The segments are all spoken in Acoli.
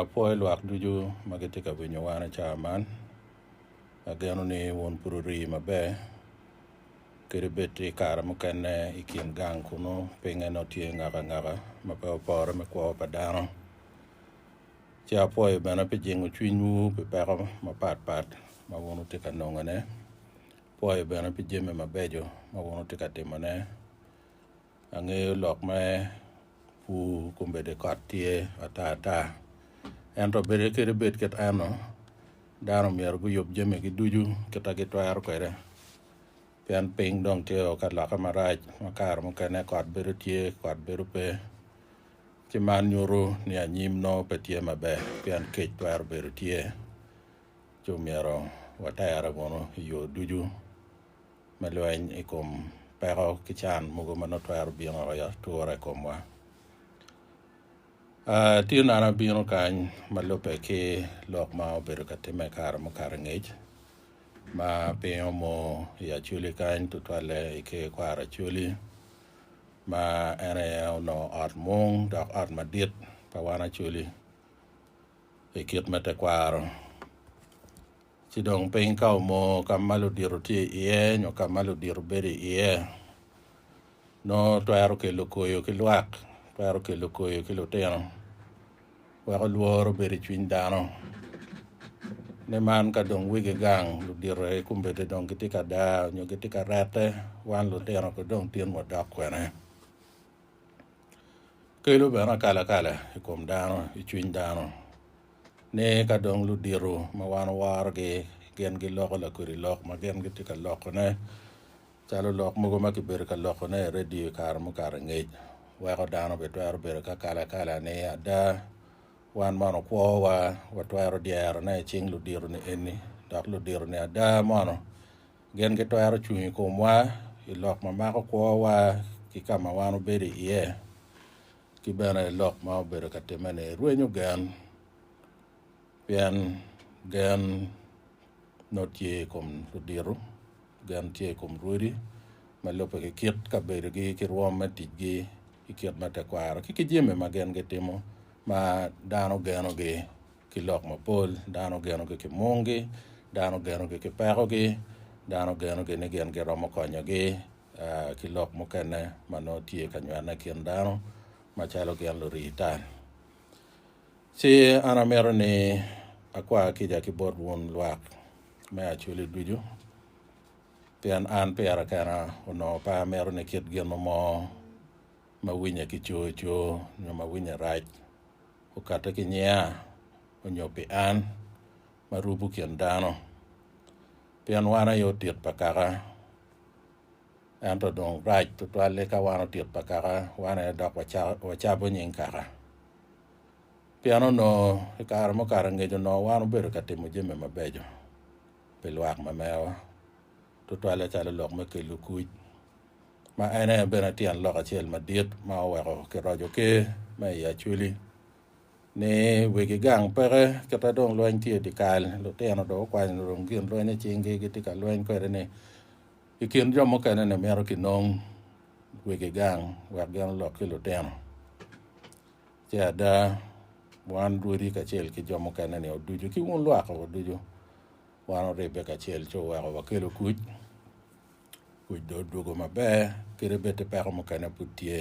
Apwoyo lwak ducu ma gitye ka winyo wan i cawa man. Ageno ni wun pud wurii maber, kadi bed i kare mukene i kin gang kunnu pinye nongo tye ngaka ngaka ma pe wupore me kwo pa dano. Ci apwoyo bene pi jingo cwinywu pi peko mapat pat ma wun wutye ka nongone. Apwoyo bene pi jami mabeco ma wun wutye ka timone. Angeyo lok me pur kombedde kot tye ata ata, ento bed kede bed kit eno, dano omyero guyub jamigi ducu kita gitwero kwede, pien piny dong tye o ka lokke marac ma kare mukene kot bedo tye kot bedo pe, ci man nyuto ni anyim nongo pe tye maber pien kec twero bedo tye, ci omyero waterre wunu i yo ducu. me lweny i kom peko ki can mogo ma nongo twero bino woko i atura i komwa. Uh, tye nano abino kany ma lubbe ki lok ma obedo ka timme kare mukato ngec ma piny omo i Acholi kany tutwalle i ker kwaro Acholi ma en aye onongo ot mung dok ot madit pa wan Acholi i kit me tekwaro. Ci dong piny ka omoo ka ma ludito tye iye nyo ka ma ludito bedo iye, nongo twero kelo koyo ki lwak, twero kelo koyo ki lutino, weko lworo obed i cwiny dano. Ni man ka dong wigi gang, ludito aye kombedde dong gitye ka daa nyo gitye ka rette, wan lutino ko dong tin wadok kwene. Kelo bene akalakala i kom dano, i cwiny dano. Ni ka dong ludito ma wan wawarogi gin giloko lakodi lok ma gin gitye ka lokone, calo lok mogo ma kibedo ka lokone i redio i kare mukato i ngec, weko dano bitwero bedo ki akalakala ni ada wan mono kwowa watwero dyerone i cing ludito-ni eni, dok ludito-ni ada mono gin gitwero cung i komwa i lok ma mako kwowa ki ka ma wan wabedo iye. Ki bene lok ma obedo ka timme-ni rwenyo gen, pien gen nongo tye i kom ludito, gen tye i kom rwodi ma lubbe ki kit kabedogi ki rwom me ticgi ki kit ma tekwaro ki ki jami ma gin gitimo ma dano genogi ki lok mapol, dano genogi ki munggi, dano genogi ki pekogi, dano genogi ni gin giromo konyogi. ki lok mukene ma nongo tye ka nywene i kin dano macalo gin lurii tal. Ci an amito ni akwa kica ki bot wun lwak me Acholi ducu, pien an pira kena onongo pe amito ni kit gin mo ma winye ki coo coo nyo ma winye rac okatte ki nyiya onyo pi an ma rubo kin dano, pien wan aye otit pa kaka. Ento dong rac tutwal-li ka wan otit pa kaka, wan aye dok wacabo nying kaka. Pien onongo i kare mukato angec onongo wan wubedo ka timo jami mabeco pi lwak ma merowa, tutwalle calo lok me kelo kuc, ma en aye bene tyen lok acel madit ma oweko kiroco Ker me i Acweli. Ni wigi gang peke kita dong lweny tye idye kal, lutino dong gukwanyo lurung gin lweny icinggi gitye ka lweny kwede-ni. I kin jo mukene-ni mito kinong wigi gang wek gin olok ki lutino. Ce ada, wan rwodi kacel ki jo mukene-ni oducu ki wun lwak-ki waducu wan oribbe kacel ci oweko wakelo kuc. Kuc dong odwogo maber kadi bed ti peko mukene pud tye.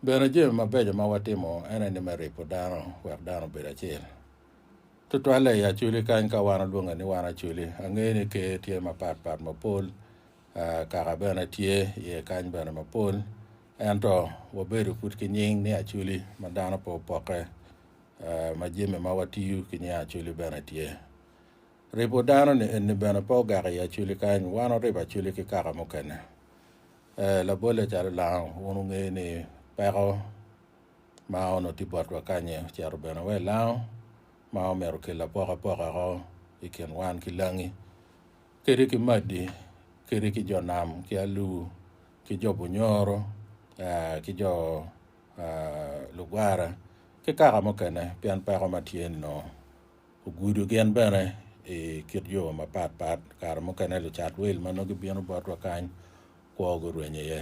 Bene, jami mabeco ma watimo en aye ni me ripo dano wek dano obed acel. Tutwalle i Acholi kany ka wan olwonge ni wan Acholi. Angeyo ni Ker tye mapat pat mapol, kaka bene tye iye kany bene mapol, ento wabedo pud ki nying ni Acholi ma dano pe opokke, ma jami ma watiyo ki nying Acholi bene tye. Ribo dano-ni eni bene pe ogak i aculi kany, wan waribo aculi ki kaka mukene. Ee, labolle calo lango, wun wungeyo ni peko ma onongo tye botwa kany-nyi ocito bene wa i lango, ma omyero okel apokapoka ko i kin wan ki langi, kadi ki madi, kadi ki jo nam, ki alur, ki jo bunyoro, aa, ki jo aa, lugwara, ki kaka mukene, pien peko ma tye-ni nongo. Ogudo gin bene i kit yo mapat pat. Kare mukene lucat wil ma nongo gibino botwa kany kwo gurwenyo iye.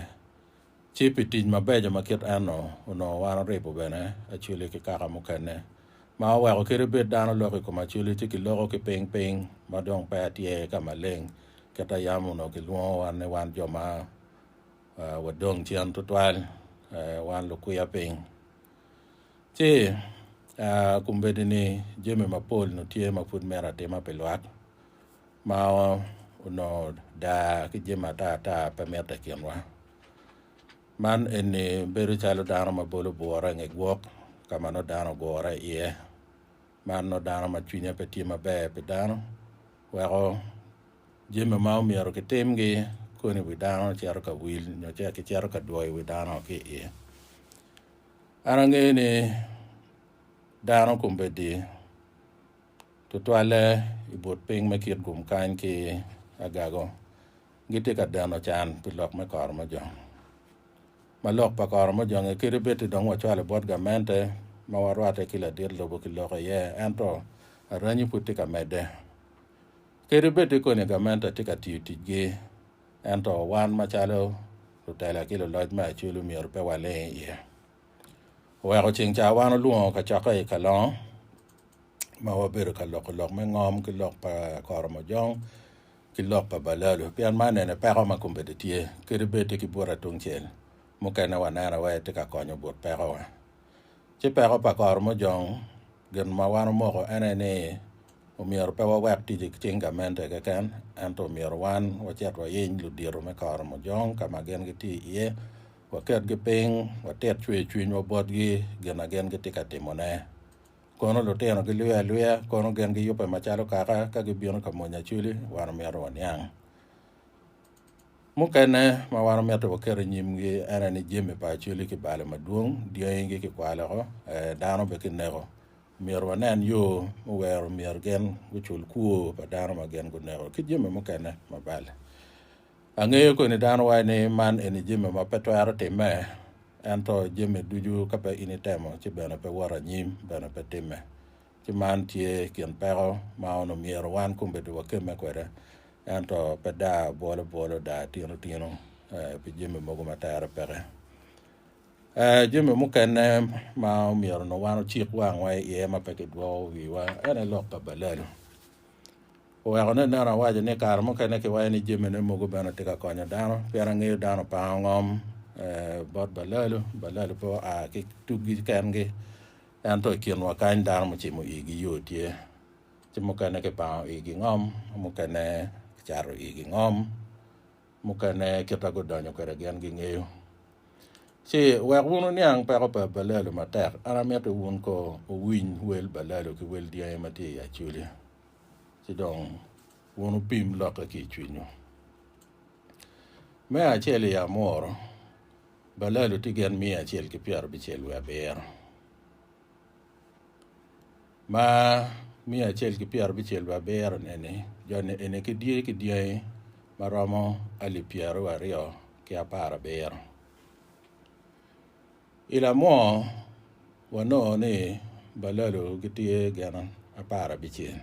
Ci pi tic mabeco ma kit en-nu, onongo wan oribo bene acwili ki kaka mukene, ma oweko kit ibed dano lok i kom acwili ci kiloko ki piny piny ma dong peya tye ka maleng. Kit a yam onongo kilwongowa ni wan jo ma wadong cen tutwal, wan lukwiya piny. Ci, kombeddi ni jami mapol onongo tye ma pud myero atim pi lwak ma onongo daa ki jami ata ata pe mitte i kinwa. Man eni bedo calo dano ma bolo bwura i nge gwok ka ma nongo dano ogure iye. Marno dano ma cwinye pe tye maber pi dano, weko jami ma omyero kitimgi koni i wi dano cito ka wil nyo ce kicito ka dwoyo wi dano ki i iye. An angeyo ni dano kombeddi tutwalle i but piny me kit gum kany ki agago gitye ka deno can pi lok me koro me jo. Ma lok pa koro mujonge kadi bed-di dong wacwale bot gamente ma warwatte ki ladit lobo ki loko iye, ento aranyi pud tye ka medde. Kadi bed-di koni gamente tye ka tiyo ticgi, ento wan macalo lutela ki luloc me aculu myero pe waling iye. Oweko ceng ca wan olwongo kacokke i Kalongo ma wabedo ka loko lok me ngom ki lok pa koro mujong ki lok pa balalu pien man ene peko ma kombeddi tye kede bed-di ki buta tungcel. Mukene waneno wai tye ka konyo but pekowa. Ci peko pa koro mujong gin ma wan omoko en aye ni omyero pe wawek tic ki cing gamente keken ento omyero wan wacit wayiny ludito me koro mujong ka ma gin gitye iye, waketgi piny, watit cwer cwinywa botgi gin ma gin gitye ka timone. Kono lutino gilwiye alwiya, kono gin giyubbe macalo kaka ka gibino ka mony acwili, wan omyero waniang. Mukene ma wan omyero waket i nyimgi ene ni jami pa acwili kibalo madwong, dyangi kikwalo oko, ee, dano bene kineko. Omyero wanen yo me wero myero gin gucul kwo pa dano ma gin guneko ki jami mukene mabal. Angeyo koni dano wai ni man eni jami ma pe twero timme, ento jami ducu ka pe in itemo ci bene pe wot anyim bene pe timme. Ci man tye kin peko ma onu myero wan kombeddi wakemme kwede, ento pe daa bwolo bwolo, daa tino tino eh, pi jami mogo ma tere peke. Eh, jami mukene ma omyero nongo wan ocik wangwa iye ma pe kidwoko wiwa ene lok pa balal. Oweko ni aneno awaco ni kare mukene kiwaco ni jamine mogo bene tye ka konyo dano pien angeyo dano pa angom bot balalu, balalu pe oa ki tuggi kengi ento i kinwa kany dano mucimo igi yo tye ci mukene kipango igi ngom mukene kicato igi ngom. Mukene kit ma gudonyo kwede gin gingeyo. Ci wek wun wuniang peko pa balalo matek, an amito wun ko wuwiny wel balalo ki wel dyangi ma tye i acoli, ci dong wun wupim lokke ki i cwinyu. Me acel i amuru, balalo tye gen miya acel ki pyerabicel wiye abiro. ma miya acel ki pyera bicel bene abiro neni joni eni ki dye ki dyangi ma romo alip pyera wa aryo ki apar abiro i lamwo wanongo ni balalo gitye gin apar abicel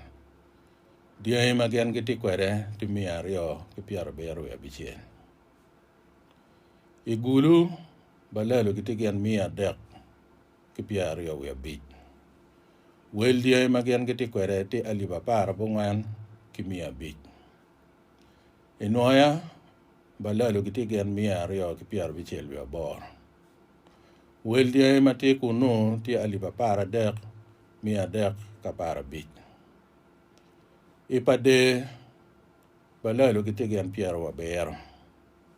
dyangi ma gin gitye kwede tye miya aryo ki pyera abiro wiye abicel i gulu balalo gitye gin miya adek ki pyer aryo wiye abic. Wel dyangi ma gin gitye kwede tye alip apar abongwen ki miya abic. I nwoya, balalo gitye gin miya aryo ki pyer abicel wiye aboro. Wel dyangi ma tye kunnu tye alip apar adek, miya adek ki apar abic. I pa Dee, balalo gitye gin pyeraryo abiro.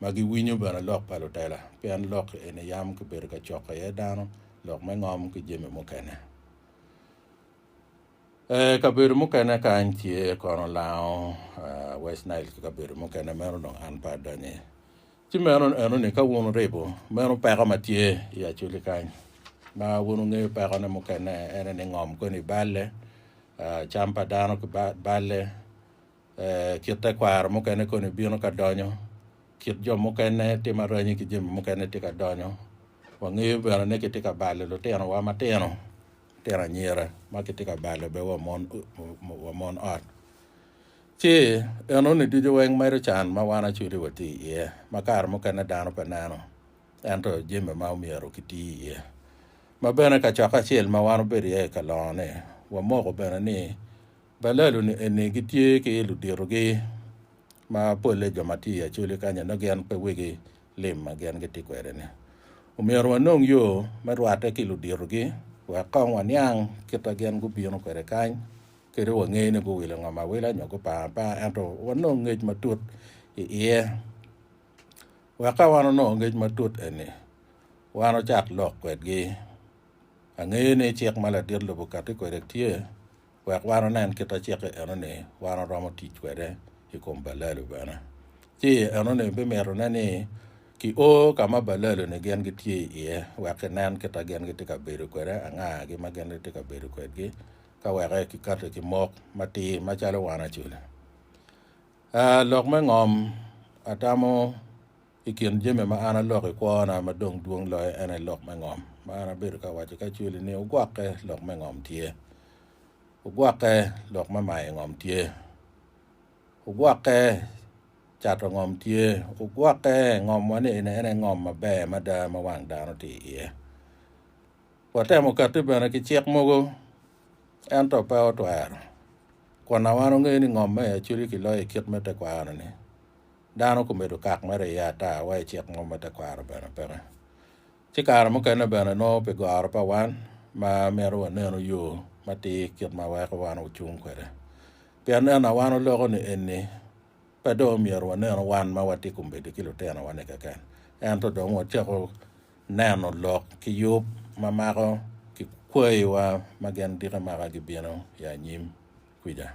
ma giwinyo bene lok pa lutela, pien lok eni yam kibedo ka coko iye dano, lok me ngom ki jami mukene. I kabedo mukene kany tye kono lango West Nile ki kabedo mukene, meno dong an pe adonyo iye. Ci meno enoni ka wun wuribo meno peko ma tye i Acholi kany, ma wun wungeyo pekone mukene, ene ni ngom koni balle, cam pa dano ki balle, Ee, kit tekwaro mukene koni bino ka donyo, kit jo mukene timo aranyi ki jami mukene tye ka donyo. Wangeyo bene ni kitye ka balo litinowa matino, litino anyira ma kitye ka balo bene wa mon, wa mon ot. Ci enoni ducu weng medo can ma wan acudi watye iye, ma kare mukene dano pe neno, ento jami ma omyero kiti iye. Ma bene kacokke acel ma wan obedo iye i kalongo-ni, wamoko bene ni Balalo-ni eni gitye ki luditogi ma polle jo ma tye i Acholi kany-nyi nongo gin pe wigi lim ma gin gitye kwede-ni. Omyero wanong yo me rwatte ki luditogi wek kong waniang kit ma gin gubino kwede kany kadi wange ni guwilo ngom awila nyo gupar apar ento wanong ngec matut i iye. Wek ka wan onongo ngec matut eni, wan ocak lok kwedgi. Angeyo ni cik ma ladit lobo kati kwede tye. Wek wan onen kit aciki enoni, wan oromo tic kwede i kom balelu bene. Ci enoni bimitone ni kio ka ma balelu-ni gin gitye iye wek kinen kit ma gin gitye ka bedo kwede, angagi ma gin gitye ka bedo kwedgi, ka weke kikati ki mok matir macalo wan acoli. Aa, lok me ngom, atamo. I kin jami ma an aloko i kwona ma dong dwong loyo en aye lok me ngom, ma an abedo ka waco ki Acweli ni ogwokke lok me ngom tye. Ogwokke lok me mayo ngom tye. Ogwokke cato ngom tye. Ogwokke ngomwa ni eni en aye ngom maber mada ma wang dano tye iye. Watemo katti bene ki cik mogo ento pe otwero. Kwonna wan ongeyo ni ngom me i Acweli kiloyo i kit me tekwaro-ni. dano gumedo kak mere iye ata wa i cik mo me tekwaro bene peke. Ci kare mukene bene nongo pi goro pa wan ma mito wanenu yo matir kit ma weko wan wucung kwede. Pien en na wan oloko ni enni pe dong myero wanenu wan ma watye gumedo ki lutinowa ni keken ento dong wacako neno lok ki yub ma mako ki kwayi wa ma gin diki maka gibino i anyim kwica.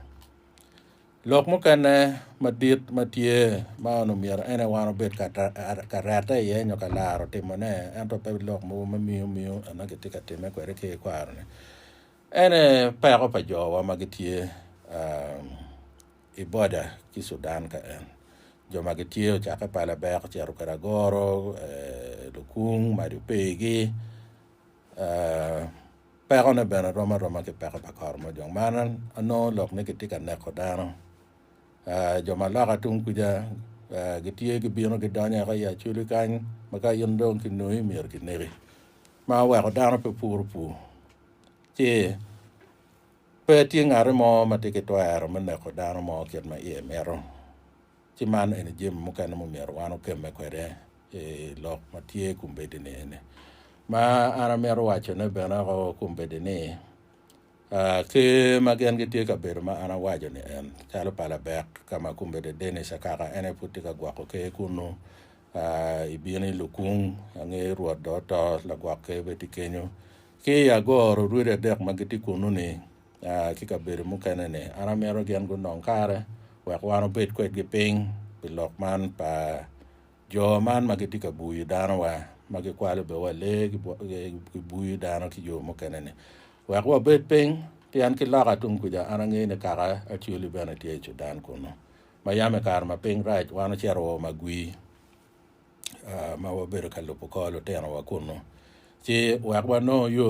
Lok mukene madit ma tye ma on omyero en ewan obed ka rette iye nyo ka laro timone, ento pe lok mogo ma miyo miyo ena kitye ka timme kwede ki ikwaroni, ene peko pa jowa ma gitye i boda ki Sudan ka en. Jo ma gitye ocakke pa labek ocito kwede agoro, lukung, mac ope igi. Pekone bene rom aroma ki peko pa kor mojong. Mar anongo lok ni kitye ka neko dano. Jo ma loka tung kuca gitye gibino gidonyo eka i Acholi kany ma ka in dong kinongi myero kineki ma oweko dano pe puro pur ci pe tye ngati mo ma tye ki twero me neko dano mo kit ma iye mito. Ci man eni jami mukene mumyero wan okemme kwede i lok ma tye i kombeddi-ni eni. Ma an amito wacone bene o kombeddi ni, Ker ma gin gitye ka bedo ma an awaco-ni en, calo pa Labek ka ma kombeddi Dennis Akaka en aye pud tye ka gwoko ker kunnu, i bino i Lukung, angeyo Rwot dong oto, lagwok ker bene tye kenyo, ki i Agoro orwodi adek ma gitye kunnu-ni, ki kabedo mukene-ni, an amito gin gunong kare wek wan obed kwedgi piny pi lok man pa jo man ma gitye ka buyo danowa, ma gikwalo bene wa lee, gibuyo dano ki yo mukene-ni. Wek wabed piny, pien ki loka tung kuca an angeyo ni kaka Acholi bene tye i Cudan kunnu. Ma yam i kare ma piny rac, wan ocito wa magwi. ma wabedo ka lubo kor lutinowa kunnu. Ci wek wanongo yo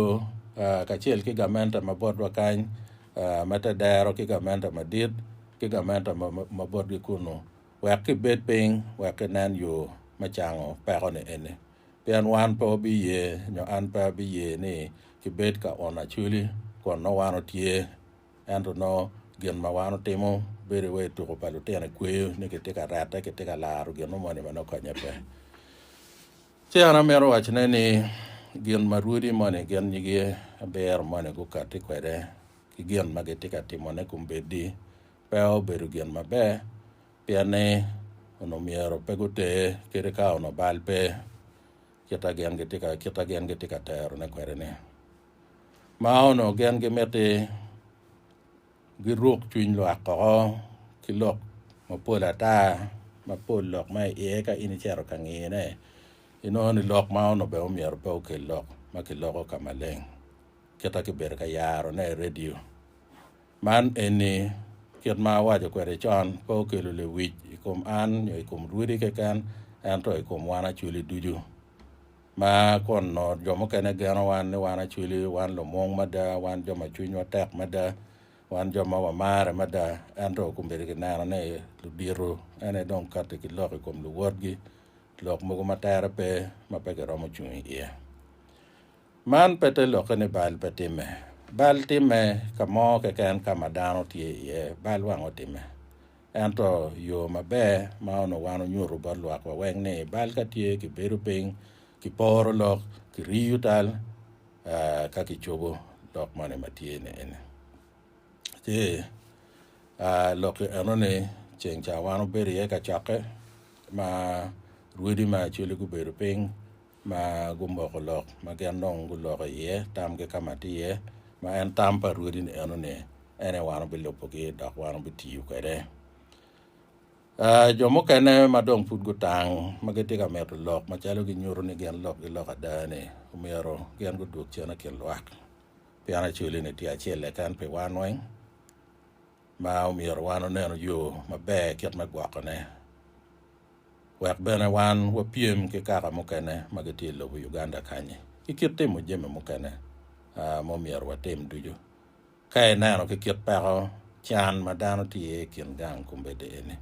kacel ki gamente ma botwa kany me te dero ki gamente madit ki gamente ma botgi kunnu wek kibed piny wek kinen yo me cango peko-ni eni. Pien wan pe wabiye nyo an pe abiye ni kibed ka ono acwili kun nongo wan otye Ento nongo gin ma wan otimo bedo wai tuko pa lutino i kweyo ni kitye ka rette, kitye ka laro gin mo moni ma nongo konye pe. Ci an amito wacone ni gin ma rwodi moni gin nyigi abiro moni gukatti kwede ki gin ma gitye ka timone kombeddi pe obedo gin maber pien ni onongo myero pe guter kadi ka onongo bal pe kita gin gitye ka kita gin gitye ka terone kwede ni. Ma onongo gin gimiti giruk cwiny lwak koko ki lok mapol ata mapol lok ma i iye ka in icito ka ngiyone inongo ni lok ma onongo bene omyero pe okel lok ma kiloko ka maleng kita ki bedo ka yaro ne i radio. Man eni kit ma awaco kwede con pe okelo lewic i kom an nyo i kom Rwidi keken ento i kom wan acwali ducu. Ma kun nongo jo mukene geno wan ni wan acwili, wan lumung mada, wan jo ma cwinywa tek mada, wan jo ma wamarre mada. Ento kombeddi kineno ni ludito ene dong katti ki lok i kom luwotgi, lok mogo ma tere pe ma pe giromo cung i iye. Man pe te lokke ni bal pe timme. Bal timme ka mo keken ka ma dano tye iye, bal wang otimme. Ento yo maber ma onongo wan onyuto bot lwakwa weng ni bal ka tye kibedo piny, kiporo lok, kiriyo tal aa, ka kicobo lok moni ma tye ni eni. Ci aa, lok enoni ceng ca wan obedo iye ka cokke ma rwodi ma acwele gubedo piny, ma gumoko lok ma gin dong guloko iye tamgi ka ma tye iye, ma en tam pa rwodi-ni eno-ni, en aye wan wubilubogi dok wan wubitiyo kwede. Ah, jo mukene ma dong pud gutang ma gitye ka mito lok macalo ginyuto ni gin lokgi lok ada-ni, omyero gin gudwog cen i kin lwak, pien acolli-ni tye acel keken pi wan weng, ma omyero wan wunenu yo maber kit me gwokone. wek bene wan wapyem ki kaka mukene ma gitye i lobo Uganda kany-nyi ki kit timo jami mukene ma omyero watim ducu. Ka ineno ki kit peko can ma dano tye iye i kin gang kombeddi eni,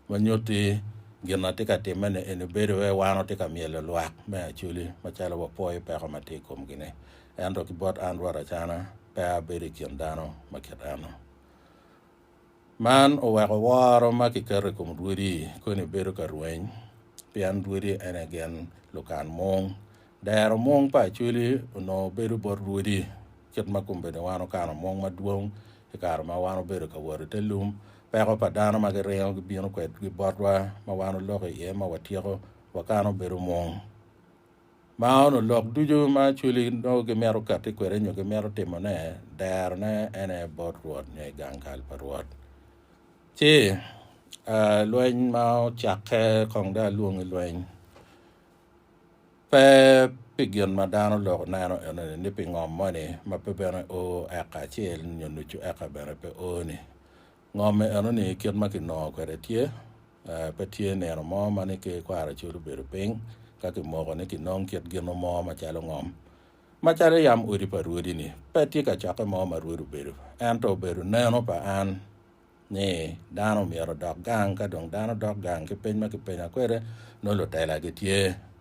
ma nyutti gin atye ka timme-ni eni bedo iye wan watye ka myelo lwak me Acholi macalo wapwoyo peko ma tye i komgi-ni. Ento ki bot an Rwot Acana, pe abedo i kin dano ma kit en-nu. Man oweko woro ma kiketo i kom Rwodi koni bedo ka rweny, pien Rwodi en aye gin lukan mung. Dero mung pa Acweli onongo bedo bot Rwodi, kit ma kombeddi wan okano mung madwong i kare ma wan obedo ka wot i te lum. Peko pa dano ma giringo gibino kwedgi botwa ma wan oloko iye ma watyeko, wakano bedo mung. Ma ono lok ducu ma acweli nongo gimito kati kwede nyo gimito timone, derone en aye bot Rwot nyo i gang kal pa Rwot. Ci ah, lweny ma ocakke kong dong alwong i lweny, pe pi gin ma dano oloko neno enoni ni pi ngom moni ma pe bene o eka acel nyo nucu eka bene pe o-ni, Ngom eno ni kit ma kinongo kwede tye, pe tye nino mo ma ni ki kwaro cwod obedo piny ka kimoko ni kinong kit gino mo macalo ngom. Macalo yam odi pa rwodi ni pe tye kacokke mo ma rwod obedo, ento obedo neno pa an ni dano myero odok gang, ka dong dano dok gang ki peny ma kipenya kwede nongo lutela gitye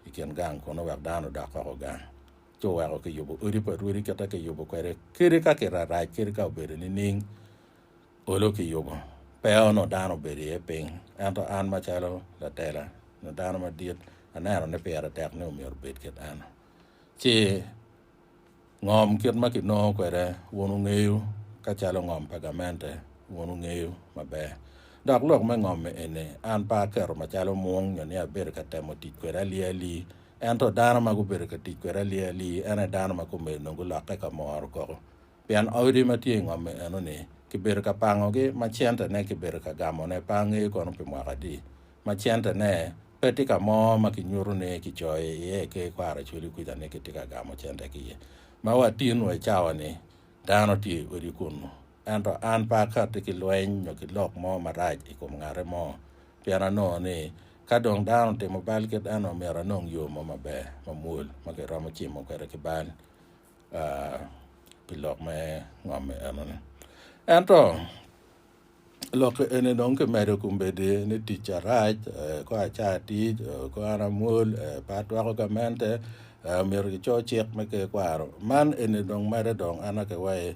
i kin gang kunu wek dano odok oko gang. Ci oweko kiyubo odi pa rwodi kita kiyubo kwede kadi ka kirarac kadi ka obedo nining. Olo kiyubo pe onongo dano obedo iye piny, ento an macalo latela nyo dano madit, aneno ni pire tek ni omyero obed kit eno. Ci ngom kit ma kinongo kwede wun wungeyo, ka calo ngom pa gamente wun wungeyo maber. Dok lok me ngom-mi eni, an pe aketo macalo mung nyo ni abedo ka temo tic kwede ali ali, ento dano ma gubedo ka tic kwede ali ali en aye dano ma kome onongo gulokke ka moro koko. Pien odi ma tye i ngomme enoni kibedo ka pangogi ma centene kibedo ka gamone pe angeyo kono pi mwaka adi, ma centene pe tye ka mo ma kinyuto ni kicoyo iye ki kwaro acwali kuca ni kitye ka gamo cente ki iye. Ma watin wa i cawa-ni, dano tye i odi kunnu. Ento an pe akatti ki lweny nyo ki lok mo marac i kom ngate mo, pien anongo ni ka dong dano otimo bal kit eno myero anong yo mo maber, mamwol ma kiromo cimo kwede ki bal. aa pi lok me ngomme enoni. Ento lokke eni dong kimedo kombeddi ni tic carac, eh, kor acar tic, eh, kor an amwol, eh, pe atwako gamente, eh, myero kico cik me ker kwaro. Man eni dong medde dong an akewai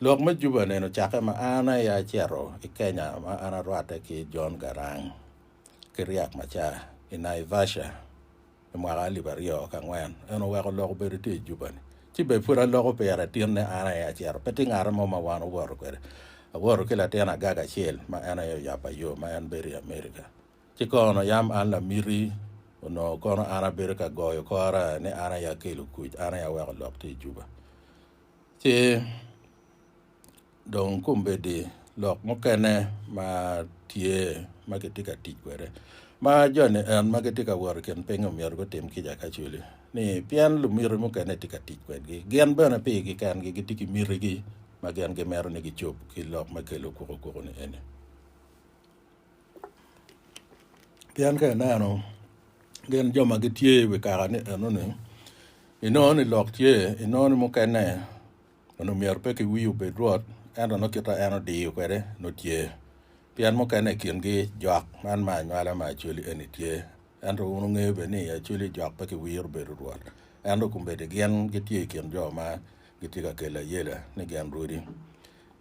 Lok me Juba nene ocakke ma an aye acito i Kenya ma an arwatte ki John Garang ki Riek Machar i Naivasha i mwaka alip aryo ki angwen. En oweko lok obedo itye i Juba-ni. Ci bed pud aloko pire tinne an aye acito. Pe tye ngat mo ma wan owoto kwede. Awoto ki latin agaga acel ma en aye oyabba yo ma en bedo i America. Ci kono yam an lamiti onongo kono an abedo ka goyo kora ni an aye akelo kuc, an aye aweko lok tye i Juba. Ci dong kombeddi lok mukene ma tye ma kitye ka tic kwede ma joni en ma gitye ka wot i kin piny omyero gutim kica kacweli ni pien lumiti mukene tye ka tic kwedgi. Gin bene pigi kengi gitye ki mitigi ma gin gimito ni gicob ki lok me kelo kwokokwoku-ni eni. Pien ka ineno gin jo ma gitye i wi kaka ni enoni, inongo ni lok tye, inongo ni mukene onongo myero pe kiwii obed rwot, ento nongo kit ma en odiyo kwede nongo tye. Pien mukene i kingi jok, man ma anywala ma Acholi eni tye. Ento wun wungeyo bene ni i Acholi jok pe kiwiro bedo rwot, ento kombeddi gin gitye i kin jo ma gitye ka kelo ayela ni gin rwodi.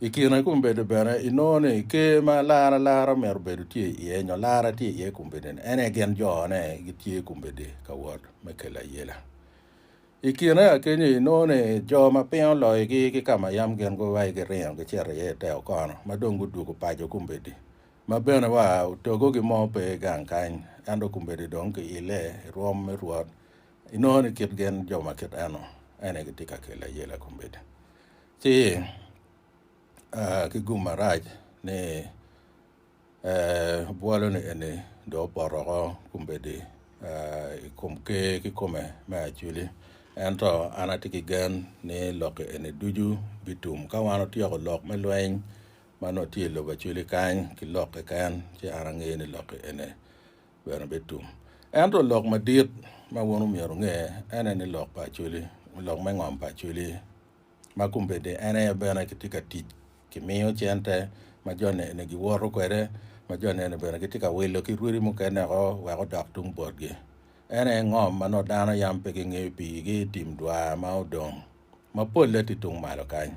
I kine i kom bedo bene, i nongo ni ker ma lar alara myero bedo tye iye nyo lara tye iye kombeddi ni, en aye gin jo ne gitye kombeddi ka wot me kelo ayela. I kine akenyo i nongo ni jo ma piny oloyo gi ki ka ma yam gin go wai giringo gicito iye ite okono ma dong gudwogo paco kombeddi ma bene wa otogo gi mo pe gang kany ento kombeddi dong ki ile i rwom me Rwot i nongo ni kit gin jo ma kit eno en aye gitye ka kelo ayela kombeddi Ci ki gum marac ni bwoloni eni dong opoto oko kombeddi i kom Ker kikome me acwili. Ento an atye ki gen ni lokke eni ducu bitum ka wan otyeko lok me lweny ma nongo tye i lobo acwili kany ki lok keken, ci an angeyo ni lokke eni bene bitum. Ento lok madit ma wun omyero wunge ene ni lok pa acwili, lok me ngom pa acwili ma kombeddi en aye bene gitye ka tic gimiyo cente ma jone eni giwoto kwede, ma jone eni bene gitye ka wilo ki rwodi mukene woko wek odok tung botgi. En aye ngom ma nongo dano yam pe gingeyo piigi i tim dwar ma odong ma polle tye tung malo kany,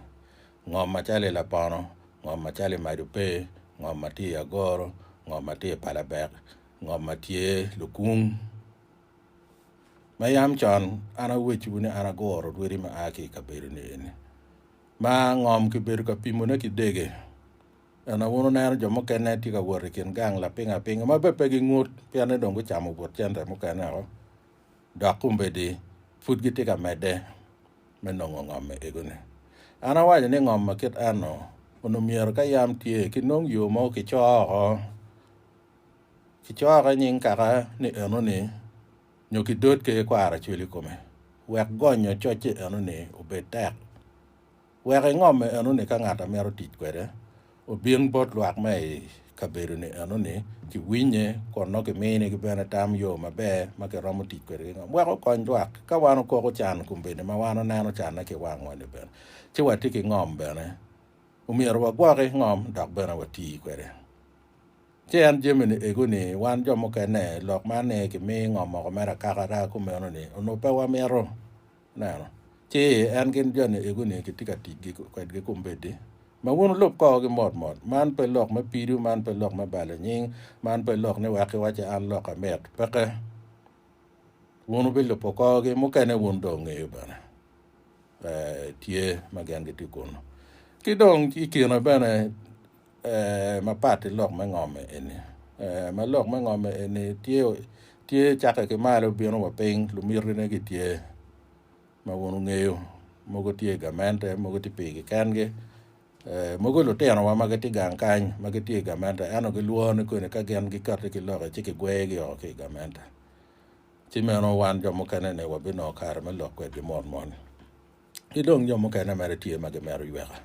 ngom macalo i lapono, ngom macalo i mac ope, ngom ma tye i agoro, ngom ma tye i palabek, ngom ma tye lukung. Ma yam con an awecciwu ni an aguro orwedi ma a ki i kabedoni eni, ma ngom kibedo ka pimone ki dege. Ento wun wuneno jo mukene tye ka wot i kin gang lapingo apinga ma bene pe gingut, pien ni dong gucamo but cente mukene woko, dok kombeddi pud gitye ka medde me nongo ngomme egoni. An awaco ni ngom ma kit enno onongo myero ka yam tye kinong yo ma kicoo oko. Kicoko i nying kaka ni enoni nyo kidotge ki kwaro acwel i kome wek gonyo cocce enoni obed tek. Wek ingomme enoni ka ngat a mito tic kwede obin bot lwak ma i kabedoni enoni kiwinye kun nongo kimini gi bene tam yo maber ma kiromo tic kwede ki ngom wek okony lwak. Ka wan okoko can kombeddi ma wan oneno canne ki wangwa-ni bene ci watye ki ngom bene, omyero wagwoki ngom dok bene wati kwede. Ci en jami-ni ego-ni, wan jo mukene, lok ma ni kimi ngo moko mere akaka raa kumeno-ni, onongo pe wamito neno. Ci en gin jo-ni ego-ni kitye ka tic kwedgi kombeddi. Ma wun wulub korogi mot mot. Man pe lok me pido, man pe lok me balo nying, man pe lok ni wek iwacce an lok amit. Peke. Wun wubilubo korogi, mukene wun dong wungeyo bene ee, tye ma gen gitye kunu. Ki dong ikine bene ee, mapat ki lok me ngom eni, ee, ma lok me ngom eni tye, tye cakke ki malo bino wa piny, lumitine gitye ma wun wungeyo, mogo tye i gamente, mogo tye pigi kengi, ee, mogo lutinowa ma gitye gang kany ma gitye i gamente, ento gilwor ni koni ka gin gikati ki loki ci kigwegi o ki i gamente, ci meno wan jo mukene-ni wabinongo kare me lok kwedgi mot mot. Ki dong jo mukene mere tye ma gimito yweka,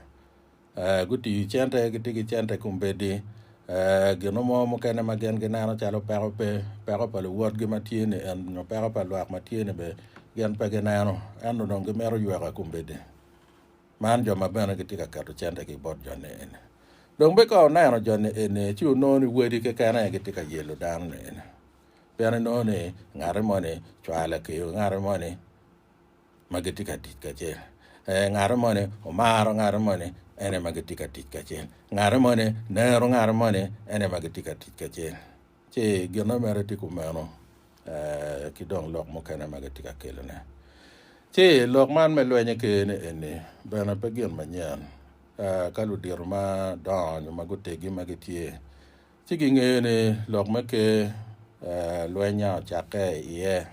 ee, gutiyo cente, gitye ki cente kombeddi, ee, gino mo mukene ma gin gineno calo peko pe, peko pa luwotgi ma tye ni en nyo peko pa lwak ma tye ni be gin pe gineno, ento dong gimito yweka kombeddi. Man jo ma bene gitye ka keto cente ki bot jo ni eni. Dong be ka oneno jo ni eni, ci onongo ni wadi keken aye gitye ka yelo dano ni eni. Pien inongo ni ngati moni cwale kiyo ngati moni, ma gitye ka tic kacel. Ee, ngate moni omaro ngate moni, en aye ma gitye ka tic kacel. Ngate moni nero ngate moni, en aye ma gitye ka tic kacel. Ci ginnene mere tye kumeno, ee, ki dong lok mukene ma gitye ka kelone. Ci lok man me lwenye kene eni bene pe gin manyen. Ee, ka ludito madongo nyo ma gutegi ma gitye, ci gingeyo ni lok me ker, ee, lweny a ocakke iye.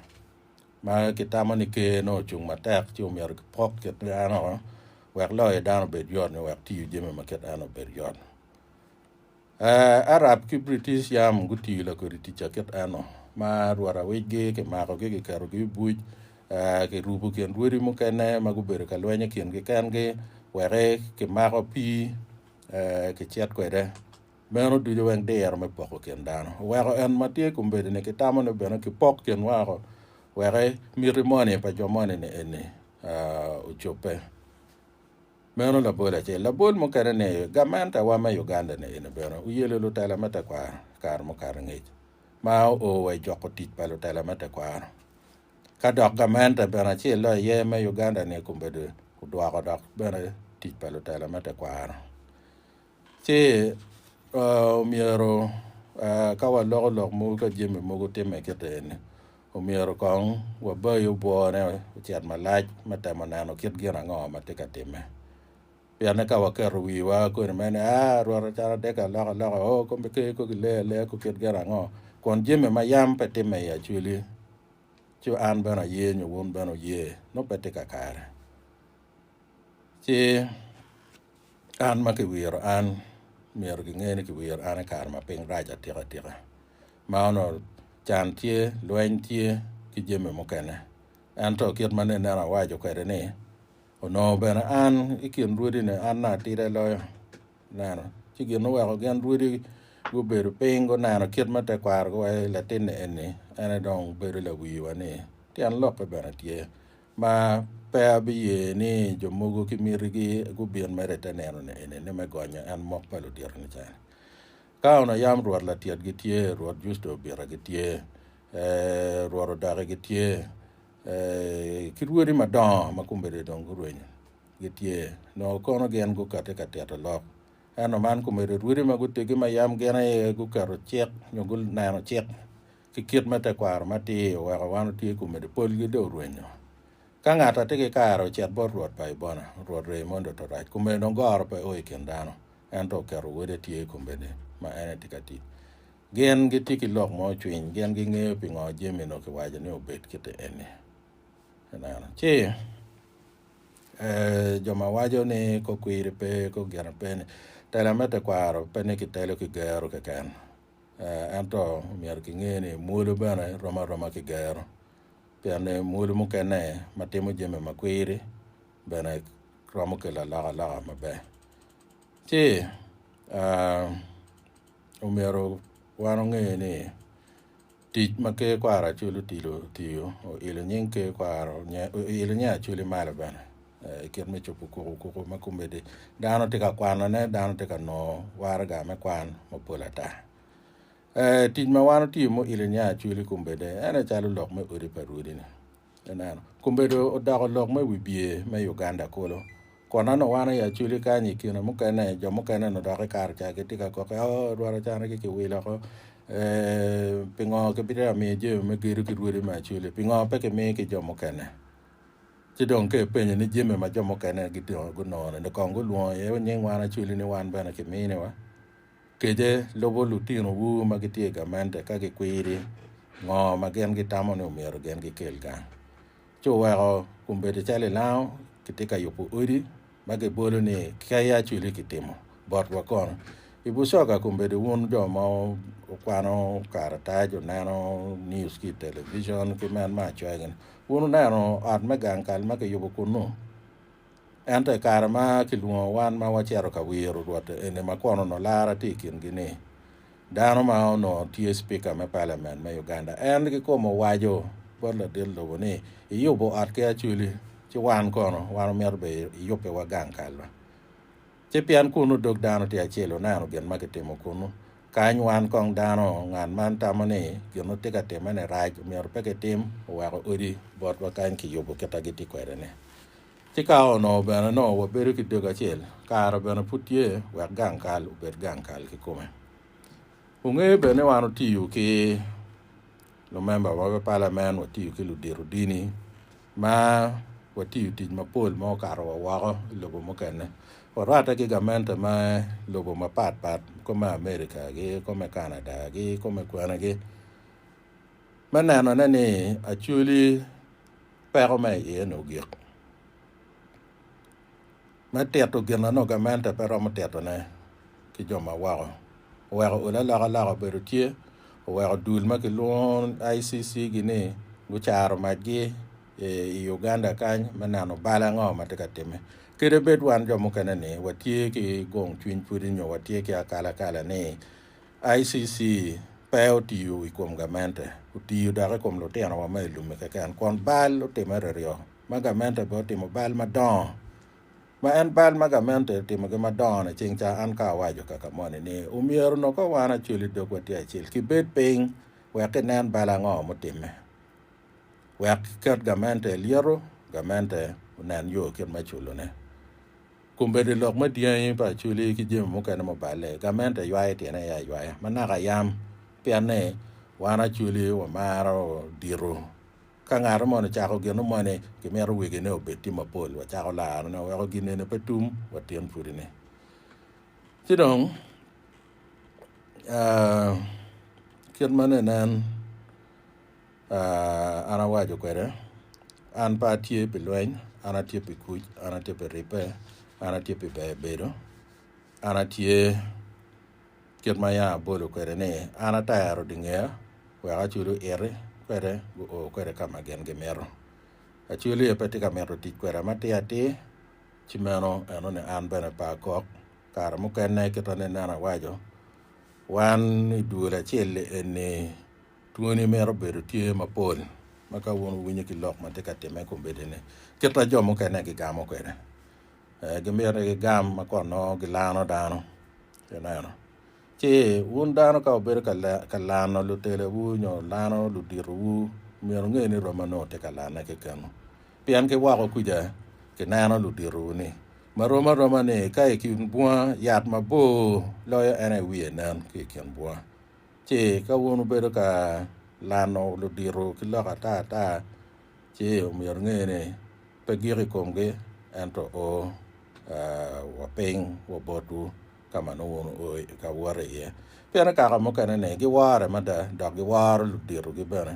ma gitamo ni Ker nongo ocung matek ci omyero kipok kit eno wek loyo dano obed yot nyo wek tiyo jami ma kit eno obed yot. Arab ki British yam gutiyo lakodi tic a kit eno ma rwot awicgi kimakogi kiketogi i buc kirubo kin rwodi mukene ma gubedo ka lweny i kingi kengi wek kimako pii kicit kwede. Meno ducu wek diro me poko kin dano oweko en ma tye kombedini ki tamone bene kipok kinwa woko, wek miti moni pa jo moni-ni eni ocobbe. Meno labol acel. Labol mukene ni, Gamentewa me Uganda-ni eni bene oyelo lutela me tekwaro i kare mukato ngec, ma oo wa i joko tic pa lutela me tekwaro. Ka dok gamente bene acel do aye me Uganda-ni kombedo odwoko dok bene tic pa lutela me tekwaro. Ci omyero ka waloko lok mogo ka jami mogo timme kite eni, omyero kong wabayi obwone ocit malac me temo neno kit gin ango ma tye ka timme. Pienne ka waketo wiwa kodi mere ni aa rwot acalo adegi aloka aloka o kombe ker ko gilei aleya ko kit gin ango kun jami ma yam pe timme i acwali ci an bene aye nyo wun bene wuye nongo pe tye kakare. Ci An ma kiwiro an, myero kinge ni kiwiro an i kare ma piny rac atika tika, ma onongo can tye, lweny tye, ki jami mukene. Ento kit ma nene awaco kwede ni, onongo bene an i kin rwodine an na atida loyo. Ineno? Ci gin oweko gin rwodi gubedo piny guneno kit ma tekwarogi waye latinni eni, en aye dong bedo lawiwa ni tyen lokke bene tye. Ma pe abiye ni jo mogo ki mitigi gubin mere i te nino ni eni, ni me gonyo en mok pa ludito nican. Ka onongo yam rwot Latiet gitye, rwot Justo Obita gitye, ee, rwot Odaki gitye, ee, ki rwodi madongo ma kombeddi dong gurwenyo gitye, nongo kono gin gukati ka tito lok. Ento man komedo rwodi ma gutegi ma yam gin aye guketo cik nyo guneno cik ki kit ma tekwaro matir oweko wan otye kun medo polgi dong orwenyo. Ka ngat a tye ki kare ocit bot Rwot pa Ibona, Rwot Reimondo Torac, kun medo dong goro pe o i kin dano, ento oketo wode tye i kombeddi ma en etye ka tic. Gin gitye ki lok mo cwiny, gin gingeyo pingo jami onongo kiwaco ni obed kite eni. Ineno? Ci, ee, jo ma waco ni kok kwiri pe, kok gin pe-ni, tela me tekwaro pe ni kitelo ki gero keken. Ento myero kinge ni mwolo bene rom aroma ki gero, pien ni mwolo mukene ma timo jami ma kwiri bene romo kelo alokaloka maber. Ci omyero wan onge ni Tic ma Ker Kwaro Acholi Odilo otiyo, Oilo nying Ker Kwaro Oilo nying Acholi malo bene i kit me cobo kuku kuku ma komedi dano tye ka kwanone, dano tye ka nongo waraga me kwan mapol ata. Tic ma wan otiyo me oilo nying Acholi kombedde en aye calo lok me Odi pa Rwodi-ni. Ineno, Kumbedo odoko lok me wibye me Uganda kulu. Kun an awano i Acholi kany i kine mukene, jo mukene onongo dok i Karca gitye ka kokke, Oh, odwaro canagi kiwilo oko. Eeh, pingo kibitye ka miyo jami me gedo ki rwodi me Acholi? Pingo pe kimiyo ki jo mukene? Ci dong ka ipenyo ni jami ma jo mukene gitino gunongo-ni, ni kong gulwongo iye nying wan Acholi ni wan bene kiminiwa? Kece, Lubo lutinowu ma gitye i gamente ka gikwiri ngo ma gin gitamo ni omyero gin gikel gang. Ci wuweko kun bedo calo i lango kitye ka yubo odi ma gibolo ni kei acwili kitimo botwa kono. I bucoga kun bedo wun jo ma wukwano karatac, wuneno news ki i television ki men ma acoya gini, wun wuneno ot me gang kal ma kiyubo kunnu? Ento i kare ma kilwongo wan ma wacito ka wiro Rwot eni ma kwon onongo lara tye i kingi ni, dano ma onongo tye Cipika me Paliamen me Uganda en kikome owaco bot ladit lobo ni, Iyubo ot ki acwili, ci wan kono, wan omito bene iyubbiwa gang kalwa. Ci pien kunnu dog dano tye acel wuneno gin ma kitimo kunnu. Kany wan kong dano, ngat man tamo ni gin wutye ka timme-ni rac, omyero pe kitim, oweko odi botwa kany kiyubo kit ma gitye kwede-ni. Ci ka onongo bene nongo wabedo ki dog acel, kare bene pud tye wek gang kal obed gang kal kikome. Wungeyo bene ni wan wutiyo ki lumemba ma me palamen, watiyo ki ludito dini, Ma watiyo tic mapol ma okato wa woko i lobo mukene. Warwatte ki gamente ma lobo mapat pat kop me America gi kop me Canada gi kop me kwene gi me neno ne ni Acholi peko me iye ni ogik. Me tito gin ma nongo gamente pe romo titone ki jo ma woko, oweko olo alokaloka obedo tye, oweko dul ma kilwongo ICC gi ni gucaro macgi i Uganda kany me neno bal ango ma tye ka timme. Kede bed wan jo mukene ni watye ki gong cwiny pwodi nyo watye ki akalakala ni ICC pe otiyo i kom gamente, otiyo dok i kom lutinowa ma i lumi keken, kun bal otimme ryoryo. ma gamente bene otimo bal madongo, ma en bal ma gamente otimogi madongo ni ceng ca an ka awaco kaka moni ni omyero onongo ka wan acweli dog watye acel kibed piny wek kinen bal ango mutimme wek kiket gamente i lyeto gamente onen yo kit me culo ne kombeddi lok me dyangi pa acweli ki jami mukene ma oballe gamente ywayo tyene aye aywaya manaka yam pien ni wan acweli wamaro dito. Ka ngato mono cako gino moni, kimito wegine obed tye mapol, wacako larone, waweko gin eni pe tum wa tyen pudine. Ci dong, aa, kit ma ne nen, aa, an awaco kwede, An pe atye pi lweny, an atye pi kuc, an atye pi ribbe, an atye pi beyo bedo, an atye Kit ma yam abolo kwede ni, an atero dingea wek acwali oiti kwede guo kwede ka ma gin gimito. Acwali aye pe tye ka mito tic kweda matir atir, ci meno eno ni an bene pe akok. Kare mukene kita ni nen awaco, wan i dul acel-li eni twoni mito bedo tye mapol ma ka wun wuwinyo ki lok ma tye ka timme i kombeddi-ni, kit ma jo mukene gigamo kwede. gimito ni gigam ma kot nongo gilano dano. Ineno? Ci wun dano ka wubedo ka lano lutelowu nyo lano luditowu, myero wunge ni romma nongo tye ka lanne kekenu. Pien ki woko kuca kineno luditowu-ni. Ma rom aroma ni, ka i kin bunga yat mabor loyo en aye wiye nen ki i kin bunga. Ci ka wun wubedo ka lano luditowu ki lok ata ata, Ci omyero inge ni, pe gik i komgi, ento o wa piny wa botwu ka ma nongo wun wuo ka wot iye. Pien i kaka mukene ni giwore mada, dok giworo luditogi bene,